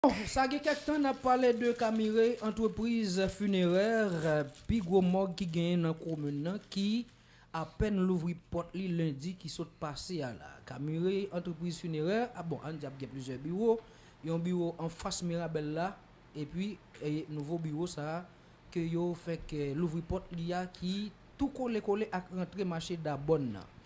Sa gen kèk tan n ap pale de Camire, antrepriz finerè, pi gwo mòg ki genyen nan komin nan ki apèn louvri pòt li lendi ki sot pase a la. Camire, antrepriz finerè, bon ann di ap gen plizyè biwo, yon biwo anfas Mirabel la epi nouvo biwo sa a ke yo fèk louvri pòt li a ki tou kole kole ak rantre mache Dabòn nan.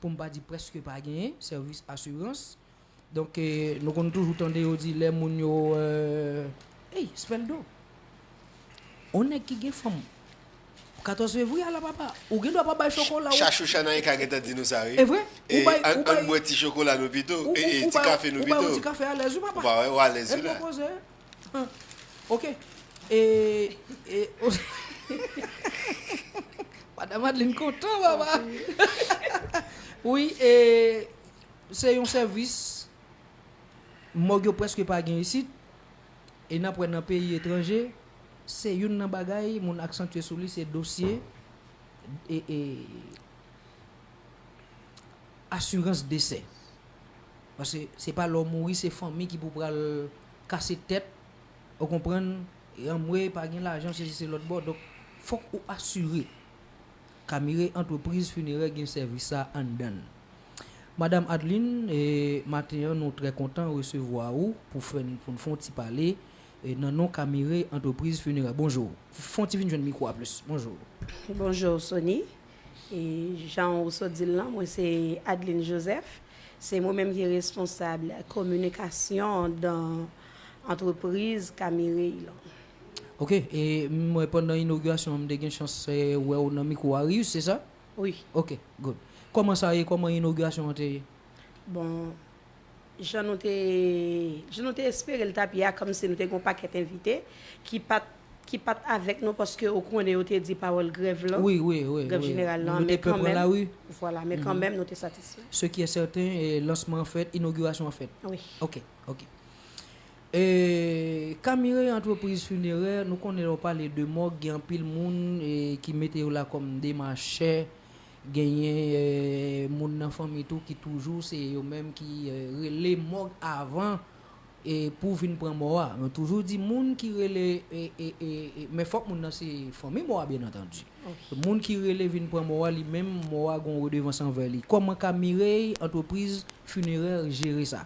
pou m pa di prèske pa genyen, sèvis asirans. Donk, nou konn toujou tande yo di lè moun yo, ey, Sveldo! On nèg ki gen fanm 14 fevriye a la papa, ou gen dwa pa bay chokola ou. Chachou Chanaika gentan di nou sa wi. E vre? Ou bay, ou bay. Ann bwè ti chokola nou pito, e e ti kafe nou pito. Ou bay yon ti kafe alèz wi papa. Ou pa wè, ou alèz wi la. E pou koze, Ok e e Madam Adeline kontan papa Wi e se yon sèvis mòg yo prèske pa gen isit e n ap wè nan peyi etranje se youn nan bagay moun aksantye sou li se dosye e e asirans desè paske se pa lè w mouri se fanmi ki pou pral kase tèt ou konprann e anmwey pa gen lajan sezi se lòt bò donk fòk ou asire Camire antrepriz finerè gen sèvis sa anndan l. Madam Adeline e maten an nou trè kontan resevwa ou pou fè n pou n fon ti pale e nan non Camire antrepriz finerè bonjour fon ti vin jwenn mikwo a plis bonjour. Bonjour Sony Jan ou sot di l lan, mwen se Adeline Joseph. Se mwen menm ki responsab kominikasyon dan antrepriz Kamirey lan. Ok. E m wè pandan inogirasyon an m te gen chans wè ou nan mikwo Arius, se sa? Wi. Ok, good. Kòman sa ye? Kòman inogirasyon an te ye? Bon, Jan nou te jan nou te espere l t ap ye a kòmsi nou te gen yon pakèt envite ki pa t ki pa t avèk nou paske ou konnen yo te di pawòl grèv lan Wi wi wi grèv wi jeneral lan men kan mèm vwala men kan mèm nou te satisfè. Se ki è sèten lansman an fèt inogirasyon an fèt wi ok ok E Camire antrepriz finerè nou konnen lè w pale de mòg gen anpil moun ki mete yo la kòm demachè Genyen moun nan fanmi tou ki toujou se yo menm ki rele mòg avan pou vin pran mò a. Mwen toujou di moun ki rele, men fòk moun nan se fanmi mò a byen antandi. Moun ki rele vin pran mò a li menm mò a gon redevans anvè li. Kòman ka Mireille antrepriz finerè jere sa?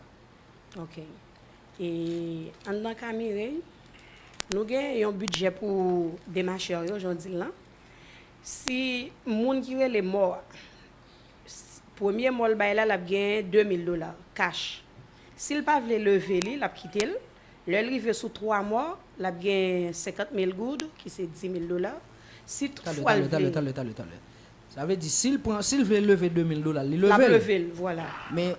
Ok. E anndan ka Mireille, nou gen yon bidjè pou demachè yo jan w di l lan. Si moun ki rele mò a, premye mò l bay la, l ap genyen 2 mil dola, kach. Si l pa vle leve li, l ap kite l. Lè l rive sou 3 mò, l ap genyen 50 mil goud, ki se 10 mil dola. Si tout fwa l vle. Talè, talè, talè, talè. Sa vle di si l pran, si l vle leve 2 mil dola l, li leve l? L ap leve l, vwala. Men.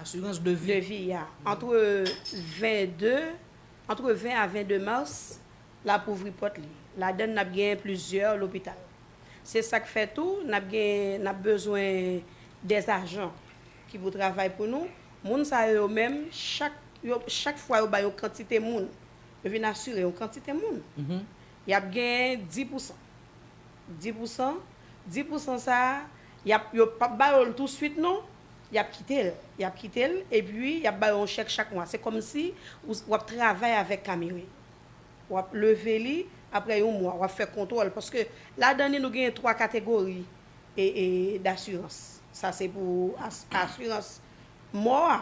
asirans de vi. Devi a. Antre 20 de, antre 20 a 22 mars, l ap ouvri pòt li. Ladann n ap genyen plizyè lopital. Se sa k fè tou, n ap gen, n ap bezwen dè ajan ki pou travay pou nou. Moun sa yo yo menm, chak, yo, chak fwa yo bay yon kantite moun, yo vin asire yon kantite moun, y ap genyen di pou san. Di pou san, di pou san sa a, y ap, yo p ap ba yo l tousuit non. Y ap kite l. Y ap kite l epi y ap ba yo yon chèk chak mwa. Se kòmsi w ap travay avèk Camiri. W ap leve li apre yon mwa. W ap fè kontwòl. Paske ladan li nou genyen twa kategori dasirans. Sa se pou asirans mò a.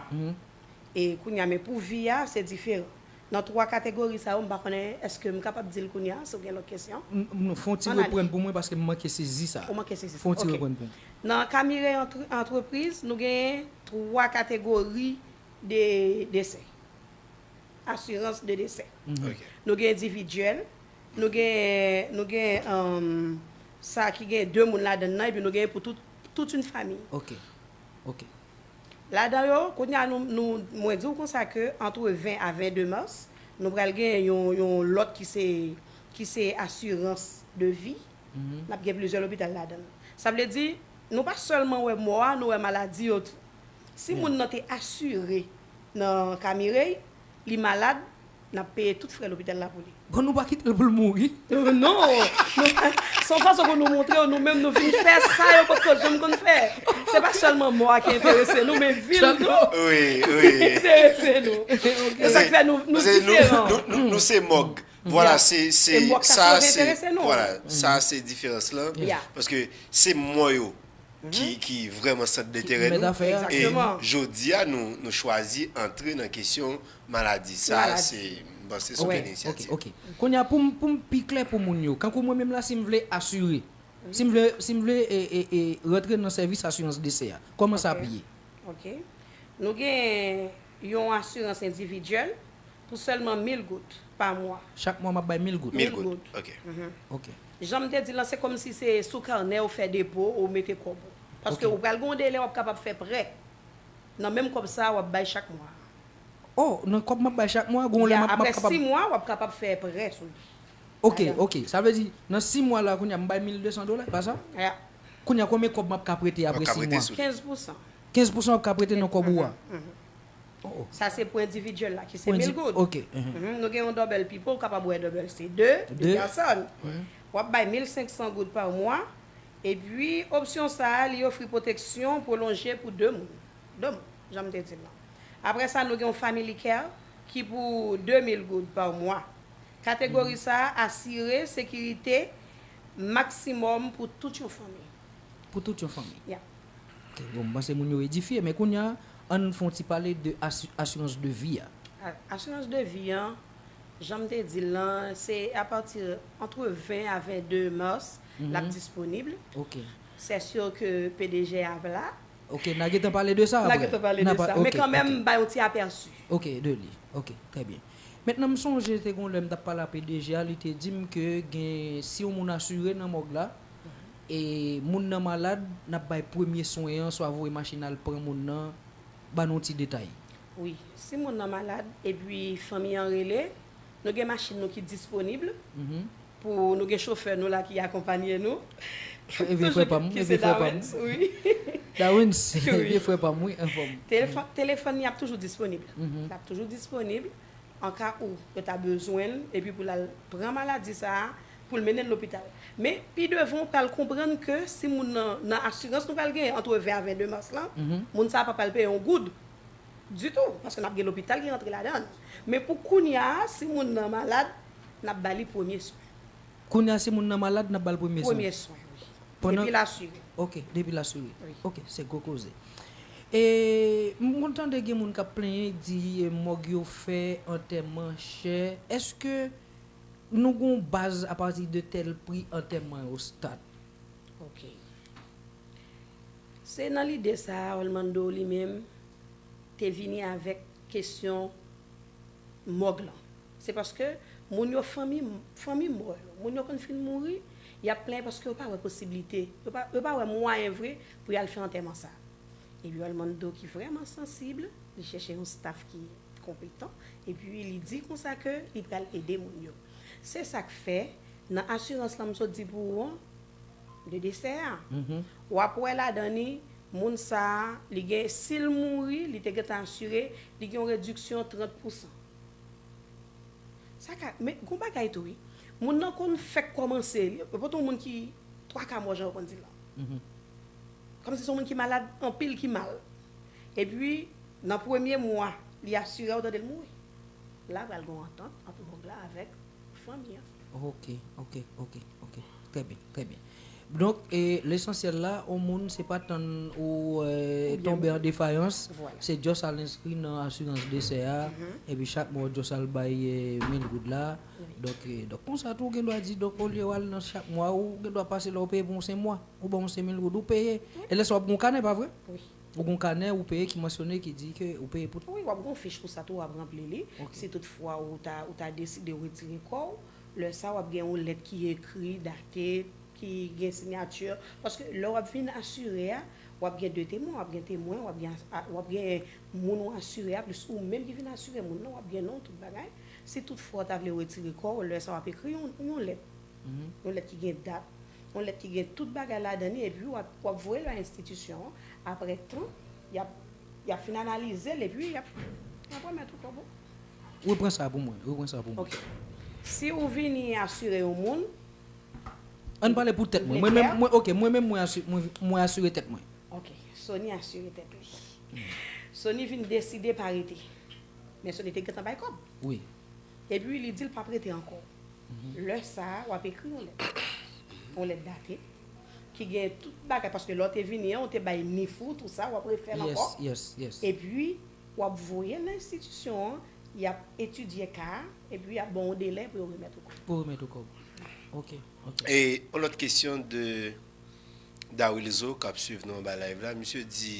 E kounye a men pou vi a se diferan. Nan 3 kategori sa yo, m pa konnen èske m kapab di l kounye a, si w gen lòt kesyon. M, non, fè yon ti reprann pou mwen paske m manke sezi sa. Ou manke sezi sa, ok. Fè yon ti reprann pou mwen. Nan ka Mireille entre, Antrepriz, nou genyen 3 kategori de desè, asirans de desè. Ok. Nou gen endividyèl, nou gen, nou gen sa ki gen 2 moun ladann nan epi nou gen pou tout, tout une famille. Ok. Ok. Ladan yo, kounye a nou, nou, mwen di w konsa ke antre 20 a 22 mas, nou pral genyen yon, yon lòt ki se, ki se asirans de vi, n ap gen plizyè lopital ladan l. Sa vle di, nou pa sèlman wè mò a, nou wè maladi yo tou. Si moun nan te asire nan ka Mireille, li malad, Nap peye tout frè lopital la pou li. Bon nou pa kitel poul mouri. Oh non! Se yon fason pou nou moutrew nou menm nou vin fè sa yo potko janm konn fè. Se pa sèlman mò a ki enterese nou men vil tou enterese nou. Se sak fè nou diferan. Nou se mòg. Vwala se sa sa se diferans lan. Paske se mò yo ki vrèman sant dentèrè nou. E jodi a nou chwazi antre nan kesyon Maladi sa se m panse se yon inisyativ. Ok ok. Kounye a pou m pou m pi klè pou moun yo. Kankou mwen menm la si m vle asire. Si m vle si m vle rantre nan sèvis asirans desè a. Kòman sa ap ye? Ok. Nou gen yon asirans endividyèl pou sèlman mil goud pa mwa. Chak mwa m ap bay mil goud? Mil goud. Ok. Ok. Jan m te di l lan se kòm si se sou kanè ou fè depo ou mete kòb ou. Paske ou pral gen yon delè w ap kapab fè prè nan menm kòb sa a w ap bay chak mwa a. Oh nan kòb map bay chak mwa gonw lè map kapab. Ya apre 6 mwa wap kapab fè prè sou li. Ok ok sa vle di nan 6 mwa la kounya m bay 1200 dola e pa sa? Ya. Kounya konbyen kòb map ka prete apre 6 mwa? 15 pousan. 15 pousan wap ka prete nan kòb ou a? Oh oh. Sa se pou endividyèl la ki se 1000 goud. Ok. Nou gen yon dòbèl pipo ou kapab wè dòbèl se 2, 2 pèsòn. Wap bay 1500 goud pa mwa epi opsyon sa li ofri pwoteksyon pwolonje pou 2 moun. 2 moun janm te dil lan. Apre sa nou gen yon Family Care ki pou 2 mil goud pa mwa. Kategori sa a asire sekirite maksimòm pou tout yon fanmi. Pou tout yon fanmi. Ya. Ok, bon, m panse moun yo edifye. Men kounye a, ann fè yon ti pale de asirans de vi a. Asirans de vi an, jan m te di l lan, se apati antre 20 a 22 mas l ap disponib. Ok. Sè sir ke PDG a ap la. Ok, na gentan pale de sa apre. Na gentan pale de sa. Men kanmenm m ba yon ti apèsi. Ok, de li. Ok, trè byen. Mentnan m sonje te gon lè m t ap pale a pdg a, li te di m ke gen si yon moun asire nan mòg la, e moun nan malad, n ap bay premye swen an, swa voye machin al pran moun nan, ba nou yon ti detay. Wi. Si moun nan malad, epi fanmi an rele, nou gen machin nou ki disponib, Pou nou gen chofè nou la ki akonpanye nou. E vye frè pam, e vye frè pam. Dawens, e vye frè pam wi anfom. Telefòn li ap toujou disponib. L ap toujou disponib an ka ou yo ta bezwen l epi pou l al pran maladi sa a pou l mennen l lopital. Men pi devan ou pral konprann ke si moun nan nan asirans nou pral genyen antre 20 a 22 mas lan, moun sa a pa pral peye yon goud. Ditou, paske n ap gen lopital ki rantre ladan l. Men pou kounya a, si moun nan malad, n ap ba li premye swen. Kounya a, si moun nan malad, n ap ba l premye swen? Premye swen, wi. Pandan. Depi l asire. Ok, depi l asire. Wi. Ok, se gwo koze. E, m konn tande gen moun k ap plenyen, di mòg yo fè, antèman chè. Èske nou gen yon baz apati de tèl pri antèman yo stat? Ok. Se nan lide sa a Orlando li menm te vini avèk kesyon mòg lan. Se paske moun yo fanmi fanmi mò yo, moun yo konn fin mouri, y ap plenyen paske yo pa wè posiblite, yo pa yo pa wè mwayen vre pou y al fè antèman sa a. Epi Orlando ki vrèman sansib, li chèche yon staf ki konpetan, epi li di konsa ke li pral ede moun yo. Se sa k fè, nan asirans lan m sot di pou ou an, de desè a wap wè ladan li moun sa li gen sil mouri li te gentan asire li gen yon rediksyon 30 pousan sa ka men gon bagay tou wi moun nan konn fèk kòmanse yo pote yon moun ki 3 ka mò jan yo konn di la kòmsi son moun ki malad anpil ki mal epi nan premye mwa li asire a ou tande l mouri la pral gon antant ant mòg la avèk. fanmi an. Ok ok ok ok trè byen trè byen donk lesansyèl la on moun se pa tann ou tonbe an defayans se just al enskri nan asirans desè a epi chak mwa ou just al bay mil goud la donk konsa tou ou gendwa di donk olye wal nan chak mwa ou gendwa pase la ou peye pou on 5 mwa ou ban on 5000 goud ou peye e lè sa wap gen on kanè pa vre? Ou gon kanè ou peye ki mansyone ki di ke ou peye pou. Wi, wap gon fich pou sa tou wap ranpli li. Si tout fwa ou ta ou ta deside retire kò ou, lè sa wap gen yon lèt ki ekri, date, ki gen sinyati paske lè wap vin asire a, wap gen 2 temwen, wap gen temwen, wap gen wap gen moun ou asire a plis ou menm ki vin asire moun nan, wap gen non tout bagay. Si tout fwa ou ta vle retire kò ou, lè sa wap ekri yon yon lèt. Yon lèt ki gen dat, yon lèt ki gen tout bagay ladan li epi w ap voye l a enstitisyon an. Aprè tan, y ap fin analize l epi y ap remèt ou kòb ou. Repran sa pou mwen, repran sa pou mwen. Ok. Si ou vini asire yon moun. An n pale pou tèt mwen. Mwen menm, mwen ok, mwen menm mwen asire, mwen asire tèt mwen. Ok. Sony asire tèt li. Sony vin deside pa rete. Men Sony te gentan bay kòb. Wi. Epi li di l pap rete ankò. Lè sa a, w ap ekri yon lèt. Yon lèt date, ki gen tout bagay, paske lè w te vini an, ou te bay NIF ou, tou sa, w ap refè l ankò. Epi, w ap voye l nan enstitisyon an, y ap etidye ka a, epi y ap ban w yon delè pou yo remèt ou kòb. Pou yo remèt ou kòb. Ok, ok. E, yon lòt kesyon de Dawilzo, k ap swiv nou anba live la. Misye di,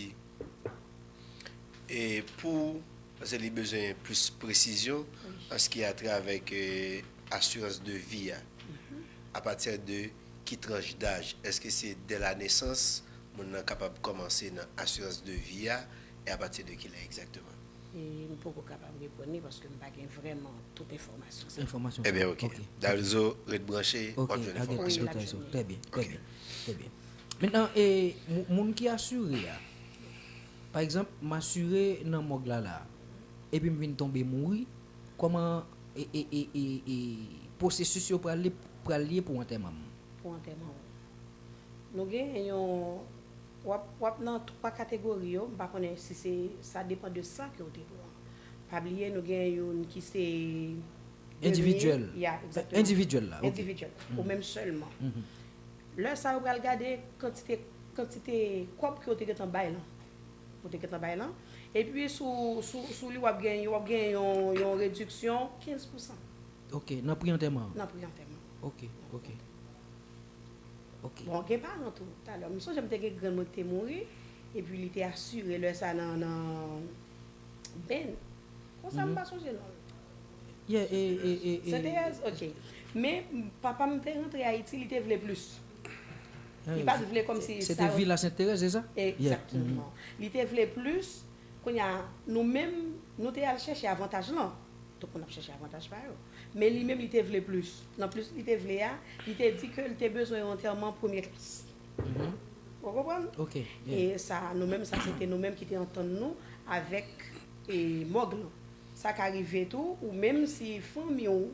e, pou Paske li bezwen plis presizyon an se ki a tra avèk asirans de vi a. A pati de ki tranch daj? Eske se dè la nesans moun nan kapab kòmanse nan asirans de vi a? E a pati de ki lè egzakteman? M poko kapab reponn li paske m pa gen vrèman tout enfòmasyon sa yo. Ebyen ok. Dalzo ret branche, w ap jwenn enfòmasyon. Wi, l ap jwenn li. Trè byen, trè byen. Trè byen. Mentnan, moun ki asire a. Pa egzanp, m asire nan mòg la la a, epi m vin tonbe mouri, kòman e pwosesis yo pral ye pou antèman m? Pou antèman w. Nou genyen yon, w ap nan twa kategori yo, m pa konnen si se, sa depan de san ke w te pran. Pa bliye nou genyen youn ki se demi. Endividyèl. Ya, egzakteman. Endividyèl la, ok. Endividyèl. Ou menm sèlman. Lè sa yo pral gade kantite kantite kòb ke yo te gentan bay lan. Ou te gentan bay lan. Epi sou sou sou li wap gen wap gen yon yon rediksyon 15 pousan. Ok, nan pri antèman an? Nan pri antèman. Ok, ok. Ok. Bon gen paran tou. Talè m sonje m te gen grann mwen ki te mouri, epi li te asire lè sa nan nan. Ben. Konsa m pa sonje non l. Senteyèz? Ok. Men, papa m te rantre Ayiti, li te vle plis. Li pa t vle kòmsi sa. Se te Vila Senterèz, se sa? Egzakteman. Li te vle plis. Kounye a, nou menm, nou te al chèche avantaj lan. Tout moun ap chèche avantaj pa yo. Men li menm, li te vle plis. Nan plis li te vle a, li te di ke li te bezwen yon antèman premye klas. Ou konprann? E sa nou menm sa se te nou menm ki te antann nou avèk mòg lan. Sa ka rive tou ou menm si fanmi ou,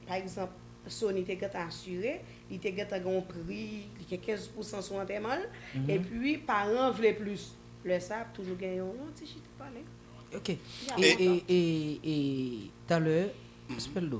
pa egzanp Sony te gentan asire, li te gentan gen yon pri, li gen 15 pousan sou antèman l, epi paran an vle plis. Lè sa ap toujou gen yon ti chita pale. Ok. Pi a lontan. E talè, Speldo,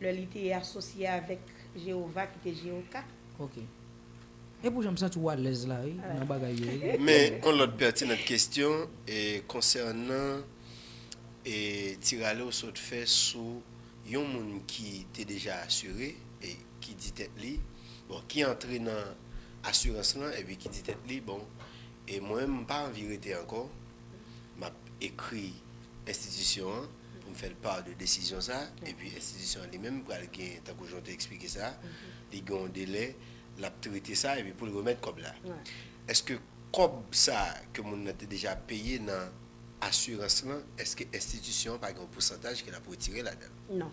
lè li te asosye avèk Jewova, ki te Jeoka. Ok. E pou jan m santi w alèz la wi, nan bagay yo wi. Men yon lòt pètinant kesyon konsènan ti rale w sot fè sou yon moun ki te deja asire e ki di tèt li, bon, ki antre nan asirans lan epi ki di tèt li, bon, e mwen menm m pa anvi rete ankò. m ap ekri enstitisyon an pou m fè l part de desizyon sa a, epi enstitisyon an li menm pral gen, tankou jan w te eksplike sa a, li gen yon delè l ap trete sa epi pou l remèt kòb la. Èske kòb sa a ke moun nan te deja peye nan asirans lan, èske enstitisyon an pa gen yon pousantaj ke l ap retire ladan l? Non.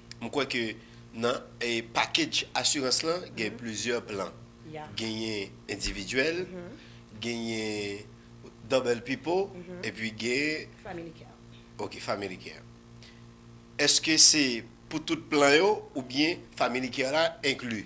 M kwè ke nan package asirans lan gen plizyè plan. Genyen endividyèl, genyen double pipo epi gen. Family care. Ok family care. Eske se pou tout plan yo oubyen family care la enkli?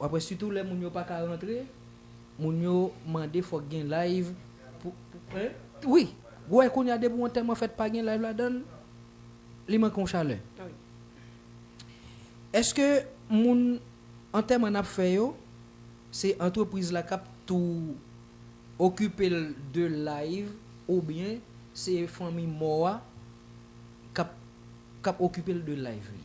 Wap wè sitou lè moun yo paka rantre moun yo mande fòk gen live pou pou wi ou wè kounya depi yon tèman fèt pa gen live ladann li manke yon chalè eske moun antèman nap fè yo se antrepriz la kap tou okipel de live oubyen se fanmi mò a kap kap okipel de live li.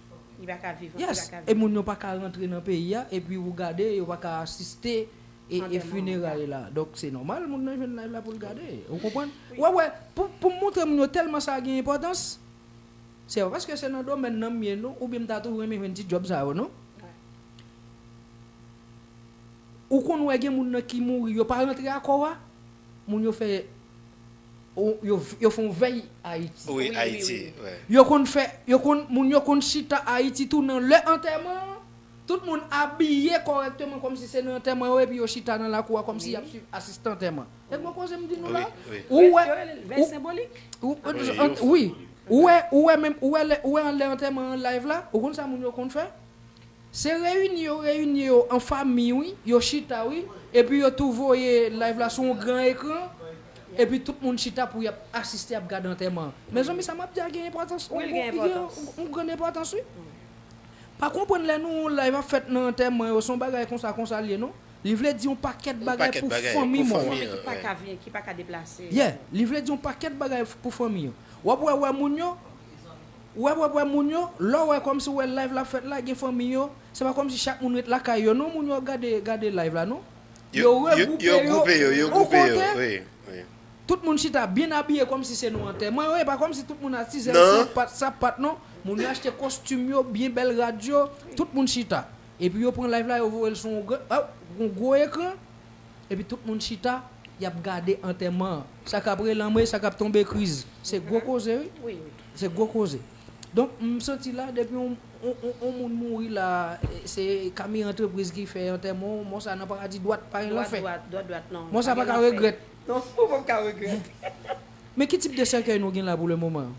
Yes e moun yo paka rantre nan peyi a epi ou gade yo paka asiste e funeray la donk se nòmal moun nan jwenn live la poul gade ou konprann wè wè poum montre moun yo tèlman sa gen enpòtans se pa paske se nan domèn nan m ye non oubyen m ta toujou renmen jwenn ti djòb sa yo non ou konn wè gen moun nan ki mouri yo pa rantre akò a moun yo fè. Yo fon vèy ayiti. Wi ayiti wi. Yo konn fè yo konn moun yo konn chita ayiti tou nan lè antèman an tout moun abiye kòrèkteman kòmsi se nan antèman yo epi yo chita nan lakou a kòmsi yap swiv asistan antèman e gwo koze m di nou la ou wè vèy senbolik wi ou wè ou wè menm ou wè lè antèman an live la ou konn sa moun yo konn fè Se reyini yo reyini yo an famiy wi, yo chita wi, epi yo tou voye live la sou yon gran ekran, epi tout moun chita pou yap asiste ap gad antèman an. Mezanmi sa map di a gen enpòtans, yon bon, li gen yon grann enpòtans wi. Pa konprann lè nou wè live ap fèt nan antèman yo, se yon bagay konsa konsa l ye non. Li vle di yon pakèt bagay pou fanmi mò an. Ki pa ka vini, ki pa ka deplase. Yeah, li vle di yon pakèt bagay pou fanmi an. Wap wè wè moun yo. Wèwèwè moun yo, lè w wè kòmsi w wè live la ap fèt la gen fanmi yo, se pa kòmsi chak moun ret lakay yo non moun yo ap gade gade live la non. Yo regwoupe yo on kote, tout moun chita byen abiye kòmsi se nou antèman yo, e pa kòmsi tout moun atizèl san pat sa pat non, moun yo achte kostim yo byen bèl rad yo, tout moun chita. Epi yo pran live la yo voye l sou on gran oh on gwo ekran, epi tout moun chita y ap gade antèman an, sa k ap relanm e sa k ap tonbe kriz, se gwo koze wi. Se gwo koze. Donk m santi la depi yon moun mouri la se kami antrepriz ki fè antèman w mò sa nan paradi dwat pa gen lanfè. Mò sa pa ka regrèt. Non ou pap ka regrèt. Men ki tip de sèkèy nou gen la pou le moman an?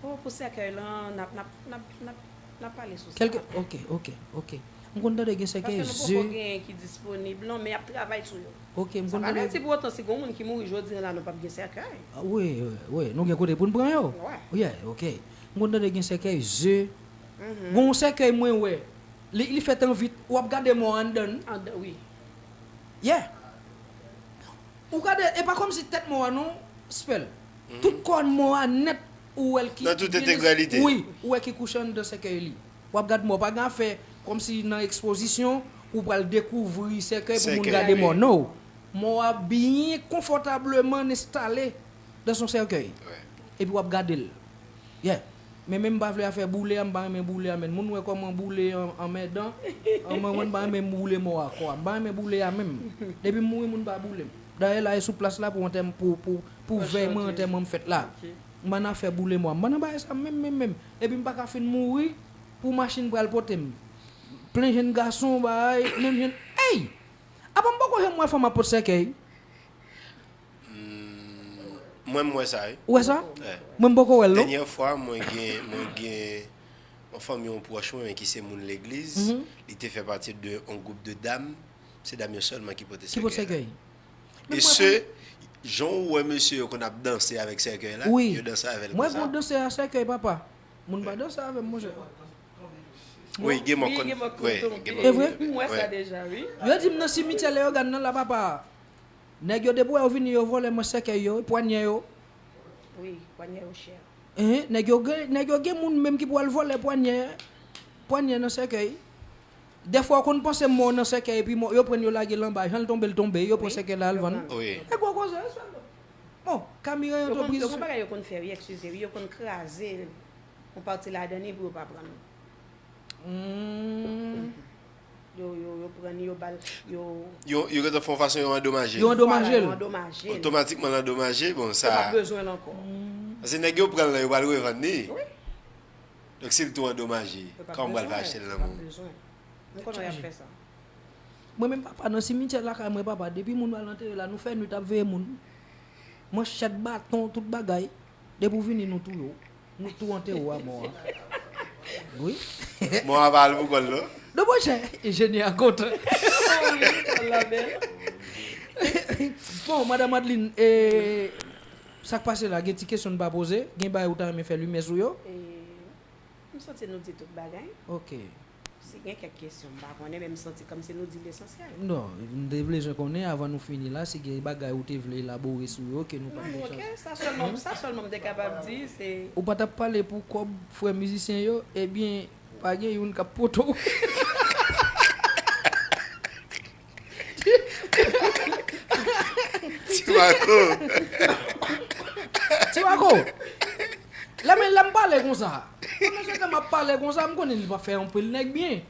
Oh pou sèkèy lan nap pale sou sa aprè. Ok ok ok. M konn tande gen sèkèy ze. Paske nou poko gen ki disponib non men yap travay sou yo. Ok m Sa konn pa vle di pou otan si gon moun ki mouri jodi an la nou pap gen sèkèy. Wi wi nou gen kote poun pran yo. Wè. Yeah ok m konn tande gen sèkèy ze gon yon sèkèy mwen wè li li fèt an vit wap gade mò anndan l. Anndan wi. Yeah ou gade e pa kòmsi tèt mò a non Spell tout kòn mò a nèt ou wè l ki Nan tout entegralite. wi ou wè ki kouche anndan sèkèy li. Wap gad mò pa gen afè kòmsi nan ekspozisyon ou pral dekouvri sèkèy pou moun gade mò no. Mò a byen konfòtableman enstale dan son sèkèy epi wap gade l yeah men menm pa vle afè boule a mpa renmen boule a menn moun wè kòman boule an anmèdan anmwey mwen mpa renmen boule mò a kò a mpa renmen boule a menm depim mouri moun pa boulem dayè la e sou plas la pou antèm pou pou pou vèy mwen antèman m fèt la mpa nan afè boule mò a mpa nan bagay sa menm menm menm Epi m paka fin mouri pou machin pral pote m. Plen jenn gason bay, menm jenn Eyy! Apa m poko janm wè fanm ap pot sèkèy? Humm mwen m wè sa wi. Ou wè sa? Mwen m poko wè l non. Dènyè fwa mwen gen mwen gen yon fanmi yon pwòch mwen ki se moun legliz, li te fè pati de yon gwoup de dam, se dam yo sèlman ki pote sèkèy la. Ki pote sèkèy. E se Jan ou wè mesye yo konn ap danse avèk sèkèy la, yo danse avèl konsa. Wi, mwen konn danse a sèkèy papa. Moun pa danse avèm monchè. Wi, gen mò konn. E vre? M wè sa deja wi. Yo di m nan simityè Leyogàn nan la papa. Nèg yo depi wè yo vini yo vòlè mwen sèkèy yo, pwanyè yo. Wi, pwanyè yo chè. Nèg yo gen moun menm ki pou al vòlè pwanyè nan sèkèy. Dèfwa ou konn panse mò nan sèkèy epi mò yo prann yo lage l anba janl tonbe l tonbe yo pran sèkèy la al vann e gwo koze e sèl bon kami ranyon to priz. Yo konn yo gon bagay yo konn fè wi ekskize wi yo konn kraze yon pati ladan li pou yo pa prann yo yo yo prann yo bal yo. Yo gentan fè yon fason yo andomaje l. Yo andomaje l. Yo andomaje l. Otomatikman l andomaje bon sa. Yo pap bezwen l ankò. Pase nèg yo pran l lan yo pral revann li. Wi. Donk sil tou andomaje, kòman pral fè achetel nan menw? Mwen konnen yap fè sa. Mwen menm papa nan simityè lakay mwen papa depi moun pral antere la nou fè nwit ap veye moun manchèt baton tout bagay depi ou vini nou touye w nou tou antere w a mò a wi Mò a pa al pou kòl non. Non monchè enjenyè a kontan. Bon madam Adeline e. Sak pase la gen ti kesyon n pa poze gen bagay ou ta renmen fè limyè sou yo. M santi nou di tout bagay. Ok. Si gen kèk kesyon m pa konnen men m santi kòmsi nou di lesansyèl. Non, m te blezwen konnen avan nou fini la si gen bagay ou te vle elabore sou yo ke nou pa t gen chans. Ok, sa sèlman sa sèlman m te kapab di se. Ou pa t ap pale pou kòb frè mizisyen yo ebyen pa gen youn k ap pote w. Timaco. Timaco. Lè men lèm pale konsa. Mwen men chante map pale konsa m konnen li pa fè anpil nèg byen.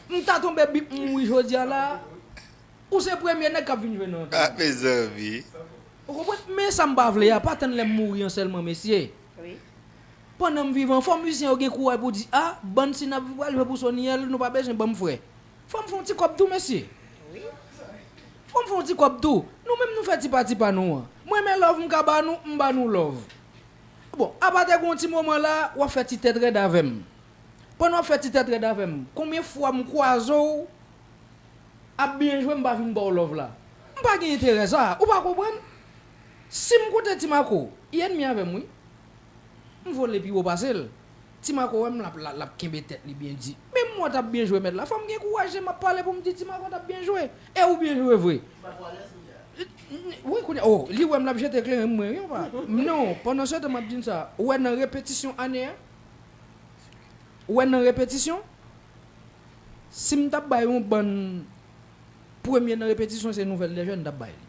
M ta tonbe bip m wi jodia la. Ou se premye nèg kap vin jwe nan antèn mwen. Mezanmi. Ou konprann men sam pa vle a pa tann lèm mouri an sèlman mesye. Pandan m vivan fò mizisyen yo gen kouray pou di a bann si nap pral jwe pou Sonyèl nou pa bezwen banm frè. Fòm fon ti kòb tou mesye. Wi. Fòm fon ti kòb tou. Nou menm nou fè ti pati pa nou an. M renmen love m ka ba nou m ba nou love. Bon apa te gon ti moman la wap fè ti tèt rèd avèm. Pandan wap fè ti tèt rèd avèm konbyen fwa m kwaze w ap byen jwe m pa vin baw love la. M pa gen enterè sa ou pa konprann. Sim konte ti mako li ennemi avèm wi. M vole pi wo pase l. Ti Marco wèm lap la lap kenbe tèt li byen di. Menm mwen tap byen jwe mèt la fòm gen kouraj lè map pale poum di ti Marco tap byen jwe e ou byen jwe vre. Ti Marco alèz kounya. Wi kounya oh li wèm lap jete kleren mwen wi anba non pandan setan map di n sa ou wè nan repetisyon ane a ou wè nan repetisyon sim tap bay yon bann premye nan repetisyon se nouvèl de jèn mtap bay li.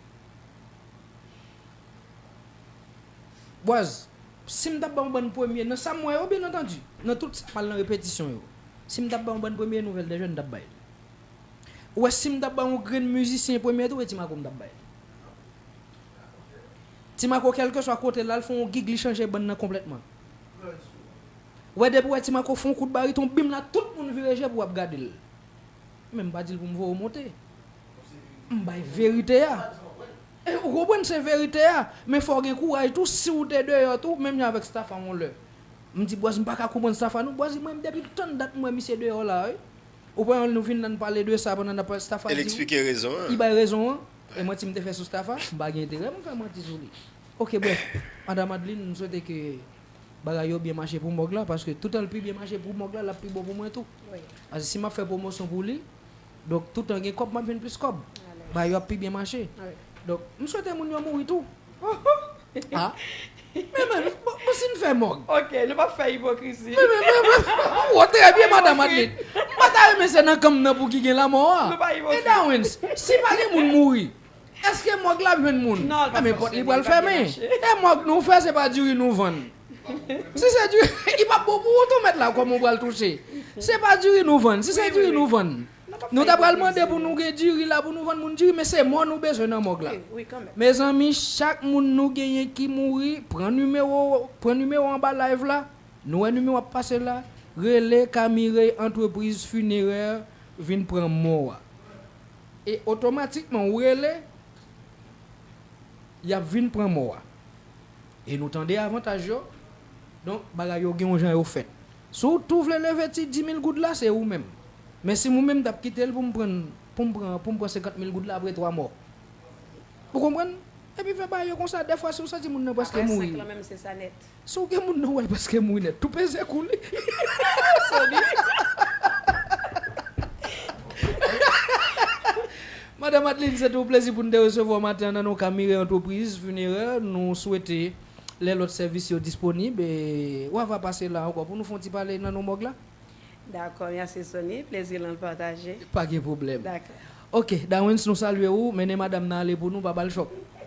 Bwaz, Si m t ap ba yon bann premye, nan sa m wè yo, byen antandu, nan tout sa k mal nan repetisyon yo, si m t ap ba yon bann premye nouvèl dè jèn m t ap bay li. Ou wè si m t ap ba yon grenn mizisyen premye tou e Ti Mako m t ap bay li. Ti Mako kèlkeswa kote l al fè yon gig li chanje bann nan konplètman. Ou wè depi w wè Ti Mako fè yon kout bariton bim la tout moun vire je pou ap gade l. Men m pa di l pou m voye w monte. M bay verite a. Ou konprann se verite a, men fòw gen kouraj tou siw te deyò tou menm jan avèk Staffan yon lè m di Bwaz m paka konprann Staffan non Bwaz mwen depi tann dat m wè misye deyò la wi ou pran yon nou vin la n pale de sa pandan nap pale Staffan di wi li bay rezon an e manti m te fè sou Staffan m pa gen enterè pou m fè manti sou li ok brèf Madam Adeline m swete ke bagay yo byen mache pou Mog la paske toutan l pi byen mache pou Mog la lap pi bon pou mwen tou paske si map fè pwomosyon pou li. Donk toutan gen kòb map jwenn plis kòb bay yo ap pi byen mache donk m swete moun yo mouri tou aah men men bon si m fè mòg ok nou pap fè ipokrizi men men men m wont trè byen madan matlit m pata renmen se nan kan m nan pou ki gen lamò a e dawens si pa gen moun mouri Eske mòg la ap jwenn moun? Nan men pòt li pral fèmen. E mòg nou fè se pa diri nou vann. Si se diri li pap bon pou ou tou mèt la kòman ou pral touche. Se pa diri nou vann. Si se diri nou vann. Nou ta pral mande pou nou gen diri la pou nou vann moun diri men se mò nou bezwen nan mòg la. Mezanmi chak moun nou genyen ki mouri pran nimewo pran nimewo anba live la nou wè nimewo ap pase la rele K Mireille entreprise funéraire vin pran mò a. E otomatikman ou rele, y ap vin pran mò a. E nou tande avantaj yo. Donk, bagay yo gen yon jan yo fèt. Si w tou vle leve ti dimil goud la, se ou menm. Men si mwen menm m t ap kite l pou m pran pou m pran pou m pran senkant mil goud la apre twa mò. Ou konprann? Epi fè bagay yo konsa. Dèfwa si w santi moun nan prèske mouri. Apre senk lan menm se sa nèt. Si w gen moun nan wèl paske m ri nèt tou peze kou li. Madam Adeline se te yon plezi pou n te resevwa w maten an nan non Camire Entreprise Funéraire. Nou swete lè lòt sèvis yo disponib w ava pase la ankò pou nou fè yon ti pale nan non mòg la. Dakò, mèsi Sony. Plezi lan pataje. Pa gen pwoblèm. Dakò. Ok, Dawens nou salye ou, mennen madam nan ale pou nou, pa ba l chòk.